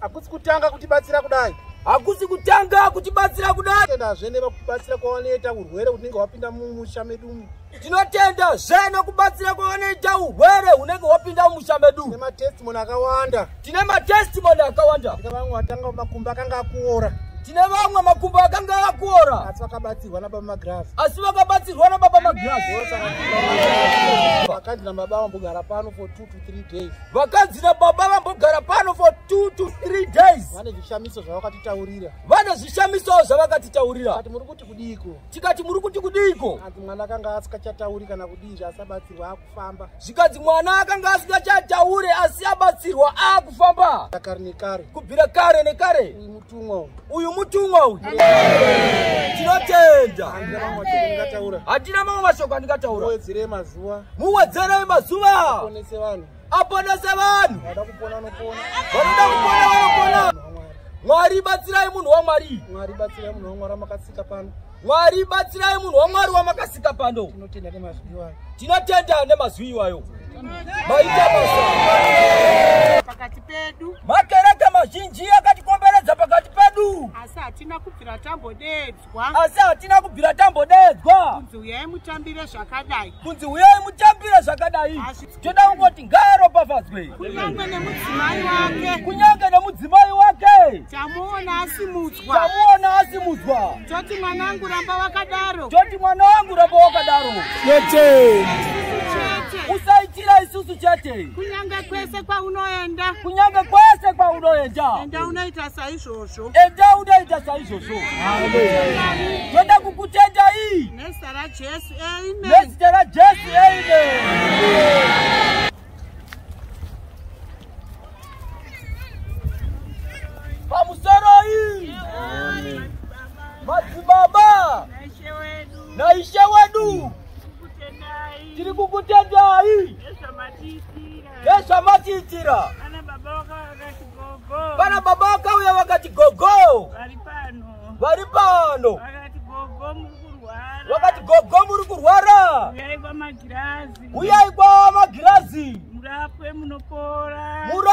hakusi kutanga kutibatsira kudai hakusi kutanga kutibatsira kudai tendazve nevakubatsira kwavanoita urwere hunenge hwapinda mumusha medumu tinotenda zve nekubatsira kwavanoita urwere hunenge hwapinda mumusha medu nematestimoni akawanda tine matestimony akawanda tine vamwe vatanga makumbo akanga akuora tine vamwe makumbo akanga akuora asi vakabatsirwa nababa magrasi asi vakabatsirwa nababa magrasi vakanzi nababa vambogara pano for two to three days vakanzi nababa vambogara pano for two to three days vane zvishamiso zvavakatitaurira vane zvishamiso zvavakatitaurira kati muri kuti kudiiko tikati muri kuti kudiiko asi mwana akanga asikachatauri kana kudii zvasabatsirwa aku famba zvikanzi mwana akanga asingachataure asi abatsirwa akufamba kare nekare kubvira kare nekare uyu mutumwa uyu mutumwa uyu tinotenda hatina mamwe mashoko andingataura muwedzerei mazuva muwedzerei mazuva aponese vanhu aponese vanhu vanoda kupona vanopona vanoda kupona vanopona mwari batsirai munhu wamwari mwari batsirai munhu wamwari makatsika pano Mwari batsirai munhu waMwari wamakasika pano. Tinotenda nemazwi iwayo. Tinotenda nemazwi iwayo. Maita basa. Pakati pedu. Makereke mazhinji akatikomberedza pakati pedu. Asi hatina kubvira tambodedzwa. Asi hatina kubvira tambodedzwa. Kunzi huyai mutambire zvakadai. Kunzi huyai mutambire zvakadai. toda kungoti ngaaropafadzwe kunyange nemudzimai wake kunyange nemudzimai wake tamuona asimudzwa tamuona asimudzwa toti mwana wangu ramba wakadaro toti mwana wangu ramba wakadaro chete usaitira isusu chete kunyange kwese kwaunoenda kunyange kwese kwaunoenda enda unoita saizvozvo enda unoita saizvozvo toda kukutendai nezita rajesu nezita rajesu amen pamusoroi madzibaba naishe wedu tiri kukutendai nezvamatiitira vana baba vakauya vakati gogo vari pano wakati gogo muri kurwara uyai kwamagirazi uyai kwamagirazi murapwe munopora murapwe